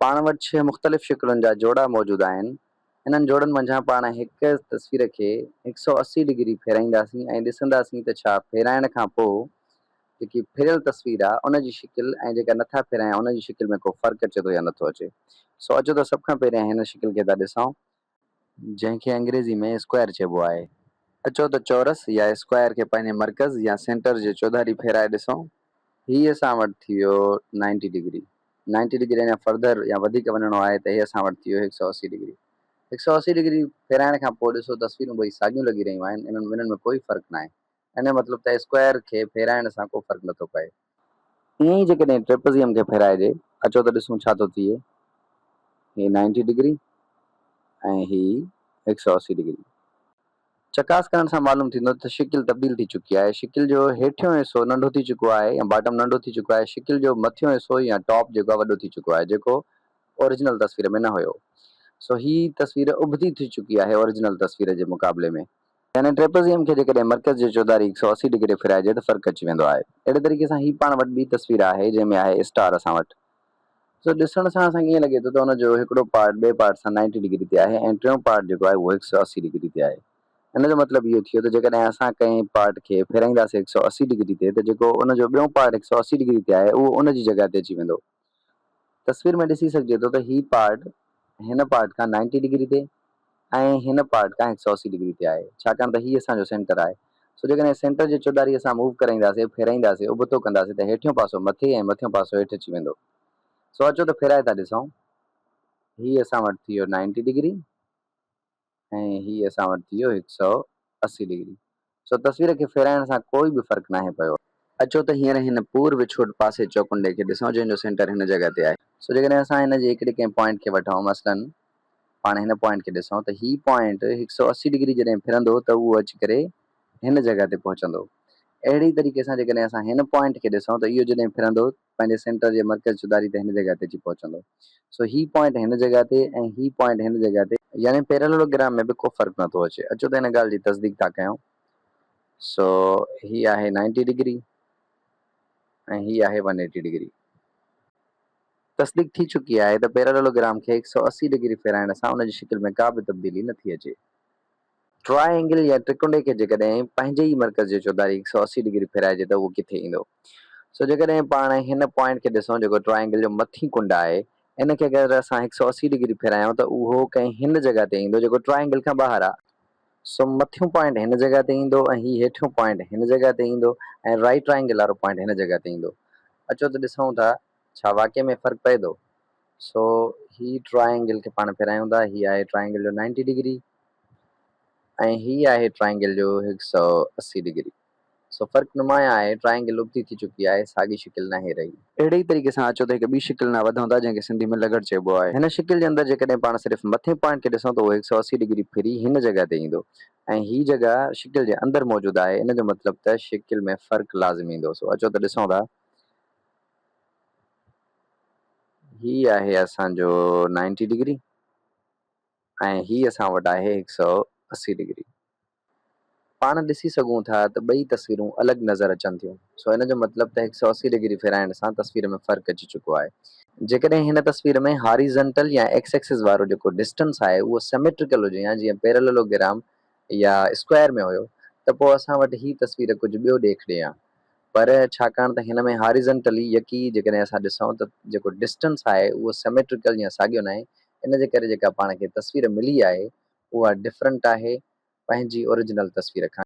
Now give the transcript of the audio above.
پاڻ وٽ ڇهه مختلف شڪلن جا جوڙا موجود آهن. انهن جوڙن منجهان پاڻ هڪ تصوير کي هڪ سؤ اسي ڊگري ڦيرائينداسين ۽ ڏسنداسين ته ڇا ڦيرائڻ کان پوء جيڪي ڦريل تصوير آهي ان جي شڪل ۽ جيڪا نٿا ڦيرايون ان جي شڪل ۾ ڪو فرق اچي ٿو يا نٿو اچي. سو اچو ته سڀ کان پهريان هن شڪل کي ٿا ڏسون ۽ جنهن کي انگريزي ۾ اسڪوائر چئبو آهي. اچو ته چورس يا اسڪوائر کي پنهنجي مرڪز يا سينٽر جي چوڌاري ڦيرائي ڏسون. هي اسان وٽ ٿي ويو نائنٽي ڊگري. نائنٽي ڊگري اڃا فرڌر يا وڌيڪ وڃڻو آهي ته هي اسان وٽ ٿي ويو هڪ سؤ اسي ڊگري. هڪ سؤ اسي ڊگري ڦيرائڻ کان پوء ڏسو تصويرون ٻئي ساڳيون لڳي رهيون آهن. انهن ٻنهن ۾ ڪوئي فرق ناهي. انهيء مطلب ته اسڪوائر کي ڦيرائڻ سان ڪو فرق نٿو پئي. ائين ئي جيڪڏهن ٽريپزيم کي ڦيرائجي، اچو ته ڏسون ڇا ٿو ٿئي. هي نائنٽي ڊگري ۽ هي هڪ سؤ اسي ڊگري. چڪاس ڪرڻ سان معلوم ٿيندو ته شڪل تبديل ٿي چڪي آهي. شڪل جو هيٺيون حصو ننڍو ٿي چڪو آهي يا باٽم ننڍو ٿي چڪو آهي. شڪل جو مٿيون حصو يا ٽاپ جيڪو آهي وڏو ٿي چڪو آهي جيڪو اوريجنل تصوير ۾ نه هيو. سو هي تصوير اڀتي ٿي چڪي آهي اوريجنل تصوير جي مقابلي ۾. يعني ٽريپزيم کي جيڪڏهن مرڪز جي چوڌاري هڪ سؤ اسي ڊگري ڦيرائجي ته فرق اچي ويندو آهي. اهڙي طريقي سان هي پاڻ وٽ ٻي تصوير آهي جنهن ۾ آهي اسٽار اسان وٽ. سو ڏسڻ سان اسان کي ائين لڳي ٿو ته ان جو هڪڙو پارٽ ٻئي پارٽ سان نائنٽي ڊگري تي آهي ۽ ٽيون پارٽ جيڪو آهي اهو هڪ سؤ اسي ڊگري تي آهي. ان جو مطلب اهو ٿيو ته جيڪڏهن اسان ڪنهن پارٽ کي ڦيرائينداسين هڪ سؤ اسي ڊگري تي ته جيڪو ان جو ٻيون پارٽ هڪ سؤ اسي ڊگري تي آهي اهو ان جي جڳهه تي اچي ويندو. تصوير ۾ ڏسي سگهجي ٿو ته هي پارٽ هن پارٽ کان نائنٽي ڊگري تي ۽ هن پارٽ کان هڪ سئو اسي ڊگري تي آهي ڇاڪاڻ ته هي اسان جو سينٽر آهي سو جيڪڏهن سينٽر جي چوڌاري اسان موو ڪرائينداسين ڦيرائينداسين ابتو ڪنداسين ته هيٺيون پاسو مٿي ۽ مٿيون پاسو هيٺ اچي ويندو سو اچو ته ڦيرائي ٿا ڏسون هي اسان وٽ ٿي ويو نائنٽي ڊگري ۽ هي اسان وٽ ٿي ويو هڪ سؤ اسي ڊگري. سو تصوير کي ڦيرائڻ سان ڪوئي به فرق ناهي پيو. اچو ته هينئر هن پور وڇوٽ پاسي چوڪنڊي کي ڏسون جنهن جو سينٽر هن جڳهه تي آهي. سو جيڪڏهن اسان هن جي هڪڙي ڪنهن پوائنٽ کي وٺون مثلاً پاڻ هن پوائنٽ کي ڏسون ته هي پوائنٽ هڪ سؤ اسي ڊگري جڏهن ڦرندو ته اهو اچي ڪري هن جڳهه تي پهچندو. اهڙي ئي طريقي سان جيڪڏهن اسان هن پوائنٽ کي ڏسون ته اهو جڏهن ڦرندو ته پنهنجي سينٽر جي مرڪز چوڌاري تي هن جڳهه تي اچي پهچندو. سو هي پوائنٽ هن جڳهه تي ۽ هي پوائنٽ هن جڳهه تي. يعني پيراليلوگرام ۾ به ڪو فرق نه ٿو اچي. اچو ته ان ڳالهه جي تصديق ٿا ڪيون. سو هي آهي نائنٽي ڊگري ۽ هي آهي ون ايٽي ڊگري. تصديق ٿي چڪي آهي ته پيراليلوگرام کي هڪ سؤ اسي ڊگري ڦيرائڻ سان ان جي شڪل ۾ ڪا به تبديلي نه ٿي اچي. ٽراء اينگل يا ٽرڪنڊي کي جيڪڏهن پنهنجي ئي مرڪز جي چوڌاري هڪ سؤ اسي ڊگري ڦيرائجي ته اهو ڪٿي ايندو؟ سو جيڪڏهن پاڻ هن پوائنٽ کي ڏسون جيڪو ٽراء اينگل جو مٿين ڪنڊ آهي، ان کي اگر اسان هڪ سؤ اسي ڊگري ڦيرايون ته اهو ڪنهن هن جڳهه تي ايندو جيڪو ٽراء اينگل کان ٻاهر آهي. سو مٿيون پوائنٽ هن جڳهه تي ايندو ۽ هي هيٺيون پوائنٽ هن جڳهه تي ايندو ۽ رائيٽ ٽراء اينگل وارو پوائنٽ هن جڳهه تي ايندو. اچو ته ڏسون ٿا ڇا واقعي ۾ فرق پئي ٿو. سو هي ٽراء اينگل کي پاڻ ڦيرايون ٿا، هي آهي ٽراء اينگل جو نائنٽي ڊگري. ۽ هي آهي ٽرائينگل جو هڪ سؤ اسي ڊگري. سو فرق نمايان آهي. ٽرائينگل ابتي ٿي چڪي آهي. ساڳي شڪل ناهي رهي. اهڙي ئي طريقي سان اچو ته هڪ ٻي شڪل ڏانهن وڌون ٿا، جنهن کي سنڌي ۾ لغڙ چئبو آهي. هن شڪل جي اندر جيڪڏهن پاڻ صرف مٿين پوائنٽ کي ڏسون ته اهو هڪ سؤ اسي ڊگري ڦري هن جڳهه تي ايندو ۽ هي جڳهه شڪل جي اندر موجود آهي. ان جو مطلب ته شڪل ۾ فرق لازم ايندو. سو اچو ته ڏسون ٿا. هي آهي اسان جو نائنٽي ڊگري. ۽ هي اسان وٽ آهي هڪ سؤ اسي ڊگري. پاڻ ڏسي سگهون ٿا ته ٻئي تصويرون الڳ نظر اچن ٿيون سو ان جو مطلب ته هڪ سؤ اسي ڊگري ڦيرائڻ سان تصوير ۾ فرق اچي چڪو آهي. جيڪڏهن هن تصوير ۾ هاريزنٽل يا ايڪس ايڪسس وارو جيڪو ڊسٽنس آهي اهو سميٽريڪل هجي يا جيئن پيرللوگرام يا اسڪوائر ۾ هيو ته پوء اسان وٽ هي تصوير ڪجهه ٻيو ڏيک ڏي ها پر ڇاڪاڻ ته هن ۾ هاريزنٽلي يڪي جيڪڏهن اسان ڏسون ته جيڪو ڊسٽنس آهي اهو سميٽريڪل يا ساڳيو ناهي ان جي ڪري جيڪا پاڻ کي تصوير ملي آهي اها ڊفرنٽ آهي پنهنجي اوريجنل تصوير کان.